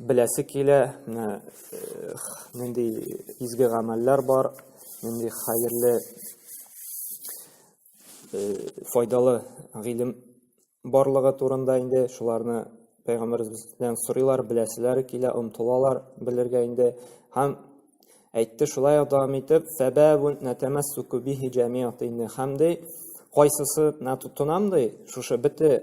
беләсе килә, менә нинди изге гамәлләр бар, нинди хәерле файдалы гыйлем барлыгы турында инде шуларны пәйгамбәребездән сорыйлар, беләселәре килә, омтылалар белергә инде. Һәм әйтте шулай ук дәвам итеп, "Фәбәбун натамассуку бихи җәмиатин" һәм ди, кайсысы тотынам ди, шушы бите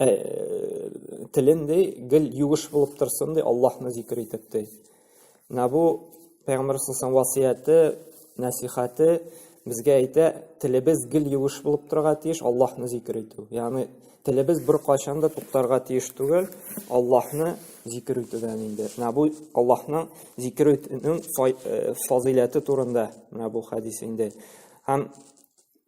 ә, телен ди гел юеш булып торсын ди аллаһны зикер итеп ди менә бу пәйгамбәр саллаллаху васыяте нәсихәте безгә әйтә телебез гел юеш булып торырга тиеш аллаһны зикер итү ягъни телебез беркайчан да туктарга тиеш түгел аллаһны зикер итүдән инде менә бу аллаһның зикер итүнең фазыйләте турында менә бу хәдис инде һәм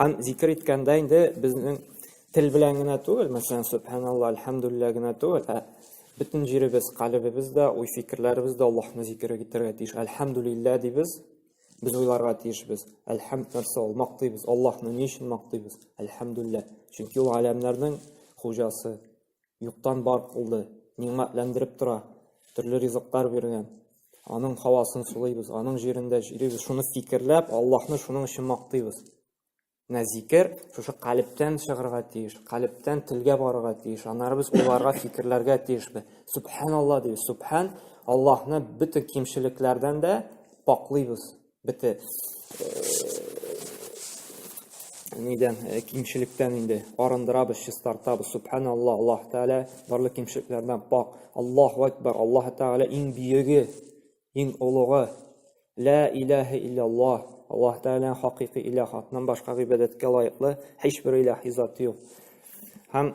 Һәм зикер иткәндә инде безнең тел белән генә түгел, мәсәлән, субханалла, әлхәмдулилла генә түгел, ә бөтен җиребез, калебебез дә, уй-фикерләребез дә Аллаһны зикер итәргә тиеш. Әлхәмдулилла дибез, без уйларга тиешбез. Әлхәмд нәрсә ул? Мактыйбыз. Аллаһны ни өчен мактыйбыз? Әлхәмдулилла. Чөнки ул галәмнәрнең хуҗасы. Юктан бар кылды, нигъмәтләндереп тора, төрле ризыклар биргән. Аның һавасын сулыйбыз, аның җирендә йөрибез. Шуны фикерләп, Аллаһны шуның өчен мактыйбыз. Менә зикер шушы калептән чыгарга тиеш, калептән телгә барырга тиеш. Аннары без уйларга, фикерләргә тиешбез. Субханалла дибез. Субхан Аллаһны бөтен кимчелекләрдән дә паклыйбыз. бите нидән кимчелектән инде арындырабыз чистартабыз субханалла аллаһ тәғәлә барлык кимчелекләрдән пак аллаһу акбар аллаһ тәғәлә иң бөеге иң олугы лә иләһә иллаллаһ аллаһ тәғәлә хакыйкый иләһ атнан башка гыйбадәткә лаеклы һичбер иләһ зат юк һәм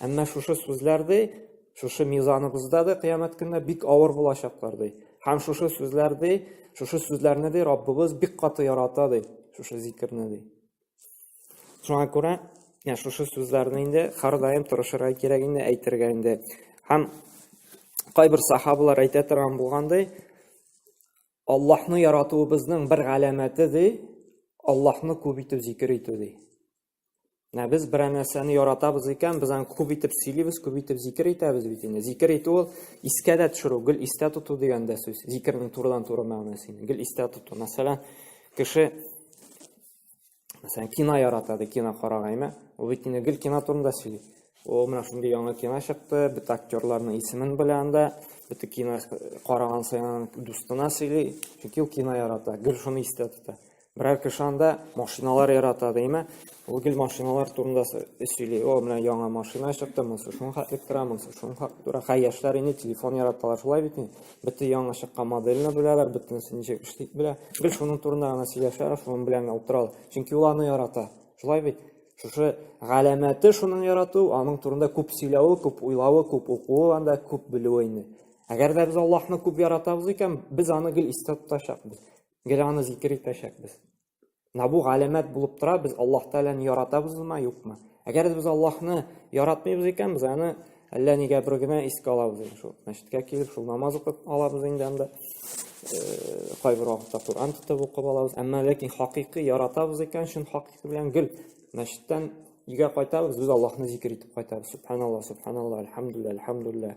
Әмма шушы сүзләр ди, шушы мизаныбызда да кыямәт көнне бик авыр булачаклар ди. Һәм шушы сүзләр ди, шушы сүзләрне ди Раббыбыз бик каты ярата ди, шушы зикерне ди. Шуңа күрә, я шушы сүзләрне инде һәрдаим тырышырга кирәк инде әйтергә инде. Һәм кайбер сахабалар әйтә торган булгандай, Аллаһны яратуыбызның бер галәмәте ди, Аллаһны күп итеп зикер итү ди. Ә без берәр нәрсәне яратабыз икән, без аны күп итеп сөйлибез, күп итеп зикер итәбез бит инде. Зикер итү ул искә дә төшерү, гел истә тоту дигән дә сүз. Зикернең турыдан-туры мәгънәсе инде. Гел истә тоту. Мәсәлән, кеше мәсәлән, кино ярата ди, кино карагайме? Ул бит инде гел кино турында сөйли. Ул менә шундый яңа кино чыкты, бит актерларның исемен белә анда, бит кино караган саен дустына сөйли, чөнки ул кино ярата, гел шуны истә тота. Берәр кеше анда машиналар ярата димә. Ул гел машиналар турында сөйли. О, менә яңа машина чыкты, монысы шуны хәтлек тора, монысы шуны хәтлек тора. Хәй, яшьләр инде телефон яраталар, шулай бит инде. Бөтен яңа чыккан моделне беләләр, бөтенесе ничек эшли белә. Гел шуның турында гына сөйләшәләр, шуның белән генә утыралар. Чөнки ул аны ярата. Шулай бит? Шушы галәмәте шуның ярату, аның турында күп сөйләве, күп уйлавы, күп укуы анда, күп белүе инде. Әгәр дә без Аллаһны күп яратабыз икән, без аны гел истә тотачакбыз. Гел аны зикер итәчәкбез. Менә бу галәмәт булып тора, без Аллаһ Тәгаләне яратабызмы, юкмы? Әгәр дә без Аллаһны яратмыйбыз икән, без аны әллә нигә бер генә искә алабыз инде шул. Мәчеткә килеп, шул намаз укып алабыз инде анда. Э, кайбер вакытта Коръән тотып укып алабыз. Әмма ләкин хакыйкы яратабыз икән, чын хакыйкы белән гел мәчеттән өйгә кайтабыз, без Аллаһны зикер итеп кайтабыз. Субханалла, субханалла, альхамдулилла, альхамдулилла.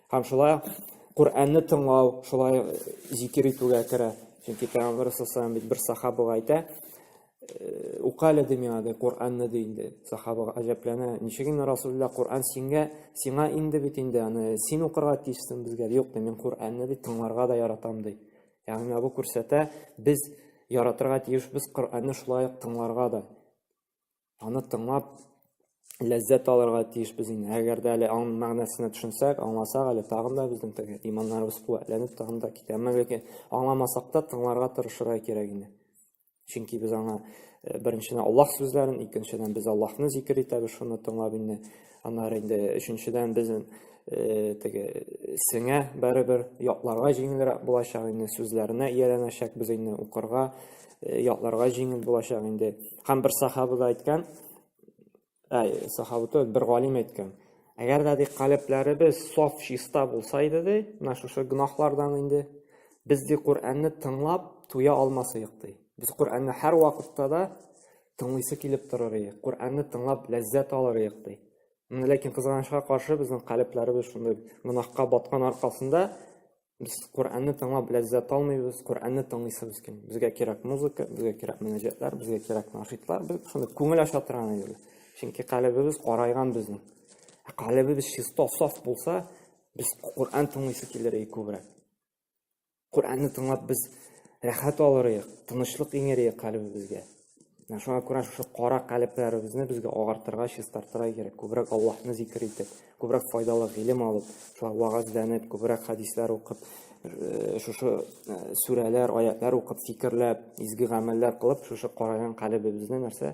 Һәм шулай Коръәнне тыңлау, шулай зикер итүгә керә. Чөнки Пәйгамбәр саллаллаху бит бер сахабага әйтә, «Э, укале ди миңа ди Коръәнне ди инде. Сахабага гаҗәпләнә, ничек инде Расулулла Коръән сиңа, сиңа инде бит инде аны син укырга тиешсең безгә. Юк ди, мин Коръәнне ди тыңларга да яратам ди. Ягъни бу күрсәтә, без яратырга тиешбез Коръәнне шулай ук тыңларга да. аны тыңлап ләззәт алырга тиешбез инде. Әгәр дә әле аның мәгънәсенә төшенсәк, аңласак, әле тагын да безнең теге иманнарыбыз куәтләнеп тагын да китә. Мәгәр аңламасак та тыңларга тырышырга кирәк инде. Чөнки без аңа э, беренчедән Аллаһ сүзләрен, икенчедән без Аллаһны зикер итәбез, шуны тыңлап инде Аннары инде өченчедән безнең э, теге сеңә бәребер ятларга җиңелрәк булачак инде сүзләренә ияләнәчәк без инде укырга э, ятларга җиңел булачак инде һәм бер сахабы да әйткән әй сахабы түгел бер галим әйткән әгәр дә ди калебләребез саф чиста булса иде ди менә шушы гөнаһлардан инде без ди коръәнне тыңлап туя алмас идек ди без коръәнне һәрвакытта да Тыңлыйсы килеп торыр иде. Коръәнне тыңлап ләззәт алыр идек ди. Менә ләкин кызганычка каршы безнең калебләребез шундый гынахка баткан аркасында без Коръәнне тыңлап ләззәт алмыйбыз, Коръәнне тыңлыйсыбыз килми. Безгә кирәк музыка, безгә кирәк мөнәҗәтләр, безгә кирәк нашитлар, без шундый күңел ача торган иде. Чөнки калебебез карайган безнең. Ә калебебез чисто, саф булса, без Коръән тыңлыйсы килер иде күбрәк. Коръәнне тыңлап без рәхәт алырыйк, тынычлык иңерәйек калебезгә. Менә шуңа күрә шушы кара калебләребезне безгә агартырга, чистартырга кирәк. Күбрәк Аллаһны зикер итеп, күбрәк файдалы гыйлем алып, шулай вагазләнеп, күбрәк хәдисләр укып, э, шушы э, сүрәләр, аятлар укып, фикерләп, изге гамәлләр кылып, шушы караган калебебезне нәрсә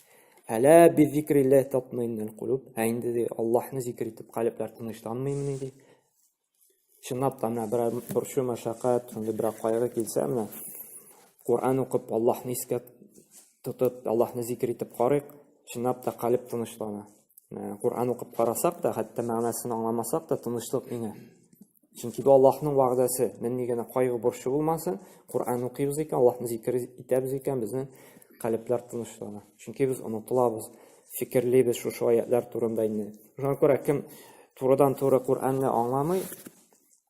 Әлә би зикрилләһ татмыйннән кулуб. Ә инде ди Аллаһны зикр итеп калебләр тынычланмыймыни ди. Чынлап та менә берәр борчу, мәшәкать, шундый берәр кайгы килсә менә Коръән укып, Аллаһны искә тотып, Аллаһны зикр итеп карыйк, чынлап та калеб тынычлана. Ә, Коръән укып карасак та, хәтта мәгънәсен аңламасак та тынычлык иңә. Чөнки бу Аллаһның вәгъдәсе. Нинди генә кайгы борчу булмасын, Коръән укыйбыз икән, Аллаһны зикер итәбез икән, безнең калебләр тынычлана. Чөнки без онытылабыз, фикерлибез шушы аятлар турында инде. Шуңа күрә кем турыдан-туры Коръәнне аңламый,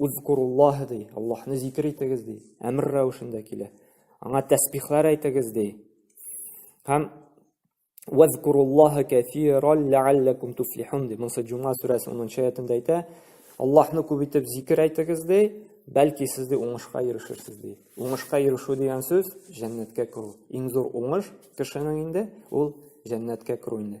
Узкуруллаһ ди, Аллаһны зикр итегез ди. Әмер рәвешендә килә. Аңа тәсбихләр әйтегез ди. Һәм Вазкуруллаһа кәфирал ләалләкум туфлихун ди. Монсы Джума сүрәсе 10 аятында әйтә. Аллаһны күп итеп зикр әйтегез ди, бәлки сез ди уңышка ирешерсез ди. Уңышка ирешү дигән сүз җәннәткә керү. Иң зур уңыш кешенең инде ул җәннәткә керү инде.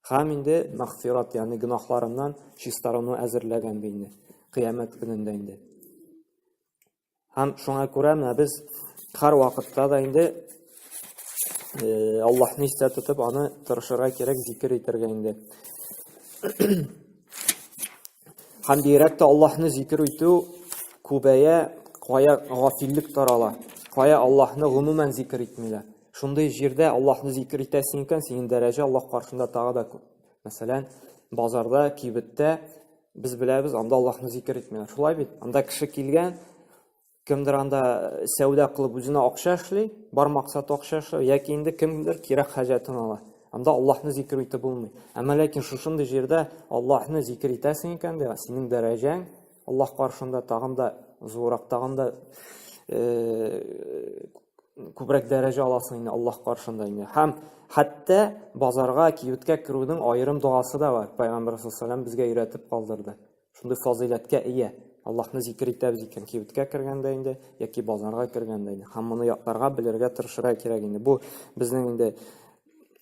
Хам инде мәгъфират, ягъни гөнаһларыннан чистарыну әзерләгән бит инде, кыямәт көнендә инде. Һәм шуңа күрә менә без һәр вакытта да инде э, Аллаһны истә тотып, аны тырышырга кирәк, зикер итәргә инде. Һәм бигрәк тә Аллаһны зикер итү күбәя, кая гафиллек тарала, кая Аллаһны гомумән зикер итмиләр. Шундый җирдә Аллаһны зикер итәсең икән, синең дәрәҗә Аллаһ каршында тагы да күп. Мәсәлән, базарда, кибеттә без беләбез, анда Аллаһны зикер итмиләр. Шулай бит? Анда кеше килгән, кемдер анда э, сәүдә кылып үзенә акча эшли, бар максат акча эшли, яки инде кемдер кирәк хаҗәтен ала. Анда Аллаһны зикер итеп булмый. Әмма ләкин шушындый җирдә Аллаһны зикер итәсең икән дә, синең дәрәҗәң Аллаһ каршында тагын да зуррак, тагын да күбрәк дәрәҗә аласың инде Аллаһ каршында инде. Һәм хәтта базарга, киюткә керүнең аерым догасы да бар. Пәйгамбер саллаллаху безгә өйрәтеп калдырды. Шундый фазыйләткә ия. Аллаһны зикер итәбез икән, киюткә кергәндә инде яки базарга кергәндә инде. Һәм моны якларга, белергә тырышырга кирәк инде. Бу безнең инде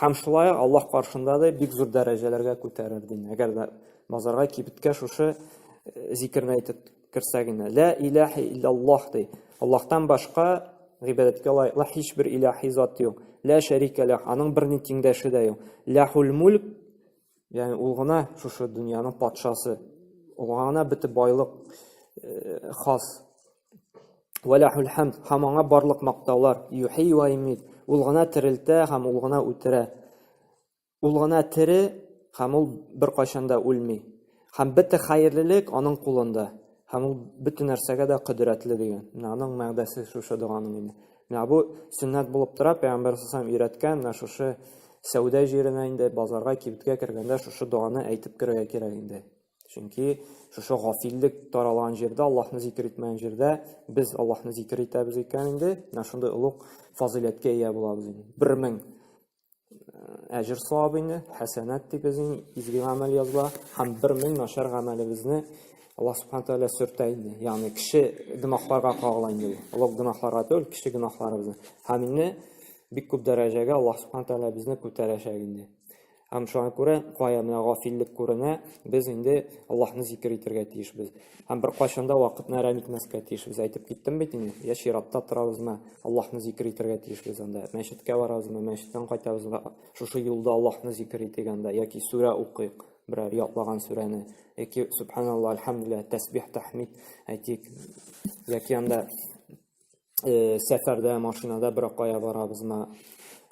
Һәм шулай ук Аллаһ каршында да бик зур дәрәҗәләргә күтәрер дин. Әгәр дә мазарга кибеткә шушы э, зикерне әйтеп керсә генә. Лә иләһи иллаллаһ ди. Аллаһтан башка гыйбадәткә лаеклы һичбер иләһи зат юк. Лә шәрикә ләһ, аның берни тиңдәше дә юк. Ләһул мульк Ягъни ул гына шушы дөньяның патшасы. Аңа гына бөтен байлык э, хас. Вәләхул хәмд, һәм аңа барлык мактаулар. Юхи ва имит, ул гына терелтә һәм ул гына үтерә. Ул гына тере һәм ул бер кайчан да үлми. Һәм бөтен хәерлелек аның кулында. Һәм ул бөтен нәрсәгә дә кодрәтле дигән. Менә аның мәгъдәсе шушы доганың инде. Менә бу сөннәт булып тора, пәйгамбәр сасам өйрәткән, менә шушы сәүдә җиренә инде базарга, кибеткә кергәндә шушы доганы әйтеп керергә кирәк инде. Чөнки шушы гафиллек таралган җирдә, Аллаһны зикер итмәгән җирдә без Аллаһны зикер итәбез икән инде, менә шундый олуг фазыйләткә ия булабыз инде. 1000 әҗер савабыйны, хәсәнәт дип безнең изге гамәл языла, һәм бер мең начар гамәлебезне Аллаһ субхана тәгалә сөртә инде. Ягъни кеше гөнаһларга кагыла инде. Олуг гөнаһларга түгел, кеше гөнаһларыбызны. Һәм инде бик күп дәрәҗәгә Аллаһ субхана тәгалә безне күтәрәчәк инде. Һәм шуңа күрә кая менә гафиллек күренә, без инде Аллаһны зикер итәргә тиешбез. Һәм бер кайчанда вакытны әрәм итмәскә тиешбез. Әйтеп киттем бит инде, я чиратта торабызмы, Аллаһны зикер итәргә тиешбез анда. Мәчеткә барабызмы, мәчеттән кайтабызмы, шушы юлда Аллаһны зикер итик анда, яки сүрә укыйк, берәр ятлаган сүрәне, яки субханалла, альхамдулилла, тәсбих, тәхмид әйтик, яки анда э, сәфәрдә машинада берәр кая барабызмы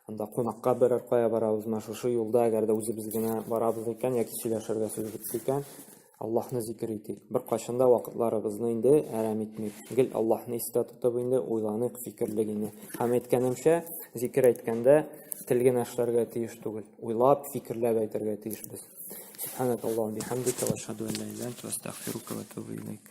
анда кунакка берәр кая барабызмы шушы юлда әгәр дә үзебез генә барабыз икән яки сөйләшергә сүз бетте икән аллаһны зикер итик беркайчан да вакытларыбызны инде әрәм итмик гел аллаһны истә тотып инде уйланыйк фикерлик инде һәм әйткәнемчә зикер әйткәндә тел генә эшләргә тиеш түгел уйлап фикерләп әйтергә тиешбез субханакаллаху бихамдика ва ашһаду ан ла иляха илля анта астагфирука ва атубу илейк